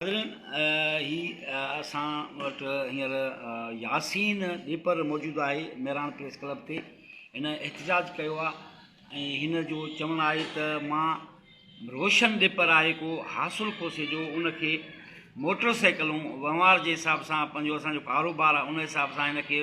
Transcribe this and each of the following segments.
ناظرين هي اسان وٽ هينئر ياسين ڏيپر موجود آهي مهراڻ پريس ڪلب تي هن احتجاج ڪيو آهي ۽ هن جو چوڻ آهي ته مان روشن ڏيپر آهي ڪو حاصل کوسي جو ان کي موٽر سائيڪلون وهنوار جي حساب سان پنهنجو اسانجو ڪاروبار آهي ان حساب سان هن کي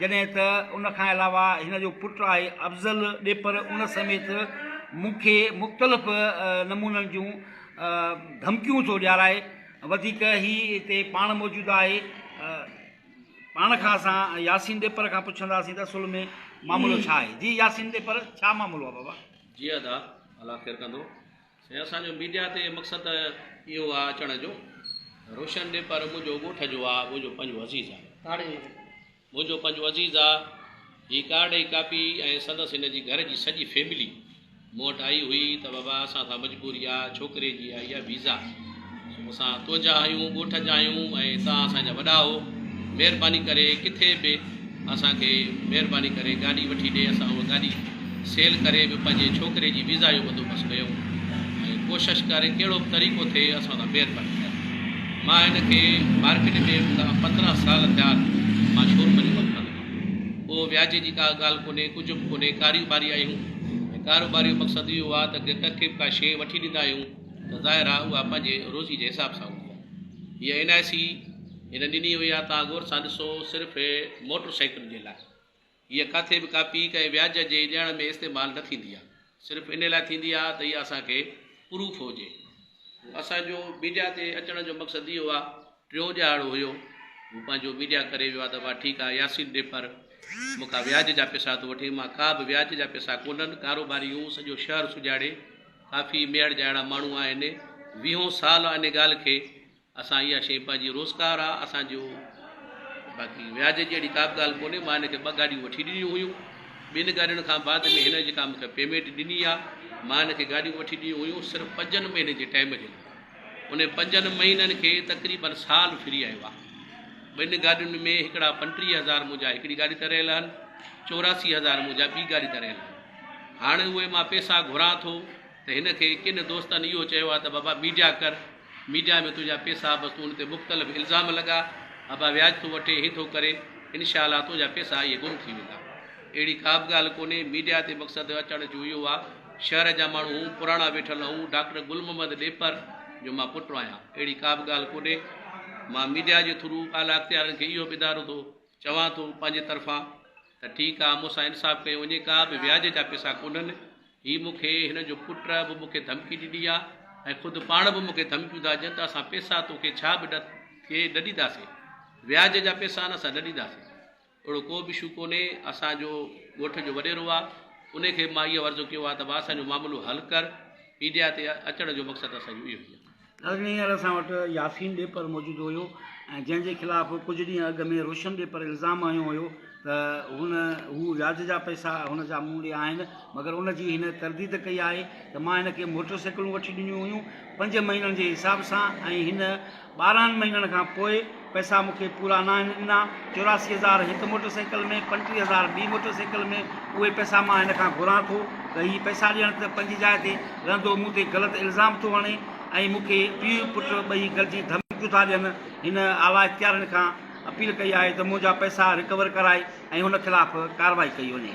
جڏهن ته ان کان علاوه هن جو پٽ آهي افضل ڏيپر ان سميت مون کي مختلف نمونن جون ڌمڪيون ٿو ڏيارائي وڌيڪ هي هتي پاڻ موجود آهي پاڻ کان اسان ياسين ڏيپر کان پڇنداسين ته اصل ۾ معاملو ڇا آهي جي ياسين ڏيپر ڇا معاملو آهي بابا جي ادا الله خير ڪندو سائين اسان جو ميڊيا تي مقصد اهو آ اچڻ جو روشن ڏي پر منهنجو ڳوٺ جو آ منهنجو پنجو عزيز آ منهنجو پنجو عزيز آ هي ڪارڊ ۽ ڪاپي ۽ سندس هن جي گهر جي سڄي فيملي مون وٽ آئي هئي ته بابا اسان سان مجبوري آ ڇوڪري جي آئي آ ويزا مون سان تنهنجا آهيون ڳوٺ جا آهيون ۽ تان اسان جا وڏا هو مهرباني ڪري ڪٿي به اسان کي مهرباني ڪري گاڏي وٺي ڏي اسان اها گاڏي سيل ڪري به پنهنجي ڇوڪري جي ويزا جو بندوبست ڪيو ۽ ڪوشش ڪري ڪهڙو به طريقو ٿئي اسان سان مهرباني ڪري مان هن کي مارڪيٽ ۾ هوندا پندرهن سال ٿيا مان شور منجهه ڪم ڪندو هيم ڪو وياجي جي ڪا ڳالهه ڪونهي ڪجهه به ڪونهي ڪاريوباري آهيون ۽ ڪاروباري جو مقصد اهو آهي ته ڪنهن کي به ڪا شيء وٺي ڏيندا آهيون ته ظاهر آ اها پنهنجي روزي جي حساب سان هوندي آ. هيء اين آء سي هن ڏني هئي آ توهان غور سان ڏسو صرف موٽر سائيڪل جي لاء. هيء ڪاٿي به ڪاپي ڪنهن وياج جي ڏيڻ ۾ استعمال نه ٿيندي آ. صرف ان لاء ٿيندي آ ته اها اسان کي پروف هجي. اسان جو ميڊيا تي اچڻ جو مقصد اهو آ. ٽيون ڄاڙو هيو، هو پنهنجو ميڊيا ڪري ويو آ ته وا ٺيڪ آ، ياسين ڊيپر مون کان وياج جا پيسا ٿو وٺي، مان ڪا به وياج جا پيسا ڪونهن، ڪاروباري هون، سڄو شهر سجاڙي، ڪافي ميهڙ جا اهڙا ماڻهو آهن، ويهون سال آ ان ڳالهه کي، اسان اها شئي پنهنجي روزگار آ اسان جو، باقي وياج جي اهڙي ڪا به ڳالهه ڪونهي، مان هن کي ٻه گاڏيون وٺي ڏنيون هيون، ٻن گاڏين کان بعد ۾ هن جيڪا مون کي پيمينٽ ڏني آ، مان هن کي گاڏيون وٺي ڏنيون هيون صرف پنجن مهينن جي ٽائيم جي لاء. ان پنجن مهينن کي تقريبن سال ڦري آيو آهي. ٻن گاڏين ۾ هڪڙا پنٽيهه هزار منهنجا هڪڙي گاڏي تي رهيل آهن، چوراسي هزار منهنجا ٻي گاڏي تي رهيل آهن. هاڻ اهي مان پئسا گهران ٿو ته هن کي ڪن دوستن اهو چيو آهي ته بابا ميڊيا ڪر، ميڊيا ۾ تنهنجا پئسا بس تون ان تي مختلف الزام لڳاء، ابا وياج ٿو وٺي، هي ٿو ڪري، انشاء الله تنهنجا پئسا اهي گم ٿي ويندا. اهڙي ڪابه ڳالهه ڪونهي، ميڊيا تي مقصد اچڻ جو اهو آهي. شهر جا ماڻهو هون پراڻا ويٺل هون ڊاڪٽر گل محمد ڏيپر جو مان پٽ آهيان اهڙي ڪا به ڳالهه ڪونهي مان ميڊيا جي ٿرو اعليٰ اختيارن کي اهو ٻڌارو ٿو چوان ٿو پنهنجي طرفان ته ٺيڪ آهي مون سان انصاف ڪيو وڃي ڪا به وياج جا پيسا ڪونهن هي مون کي هن جو پٽ به مون کي ڌمڪي ڏني آهي ۽ خود پاڻ به مون کي ڌمڪيون ٿا ڏين ته اسان پيسا تو کي ڇا به ڏي ڏينداسين وياج جا پيسا نه اسان ڏي ڏينداسين اهڙو ڪو به شو ڪونهي، اسان جو ڳوٺ جو وڏيرو آ، انهي کي به مان اهو عرض ڪيو آ ته ڀاء اسان جو معاملو حل ڪر، ميڊيا تي اچڻ جو مقصد اسان جو اهو ئي آ. ناظرين هينئر اسان وٽ ياسين ڏيپر موجود هيو ۽ جنهن جي خلاف ڪجهه ڏينهن اڳ ۾ روشن ڏيپر الزام هنيو هيو ته هن هو وياج جا پئسا هن جا مون ڏي آهن مگر ان جي هن ترديد ڪئي آهي ته مان هن کي موٽر سائيڪلون وٺي ڏنيون هيون پنج مهينن جي حساب سان ۽ هن ٻارهن مهينن کان پوء پئسا مون کي پورا ناهن ڏنا. چوراسي هزار هڪ موٽر سائيڪل ۾ پنٽيهه هزار ٻي موٽر سائيڪل ۾ اهي پئسا مان هن کان گهران ٿو ته هي پئسا ڏيڻ ته پنهنجي جاء تي رهندو مون تي غلط الزام ٿو هڻي ۽ مون کي پيء پٽ ٻئي گڏجي ڌمڪيون ٿا ڏين هن اعليٰ اختيارين کان اپيل ڪئي آهي ته منهنجا پئسا رڪور ڪرائي ۽ هن خلاف ڪارروائي ڪئي وڃي.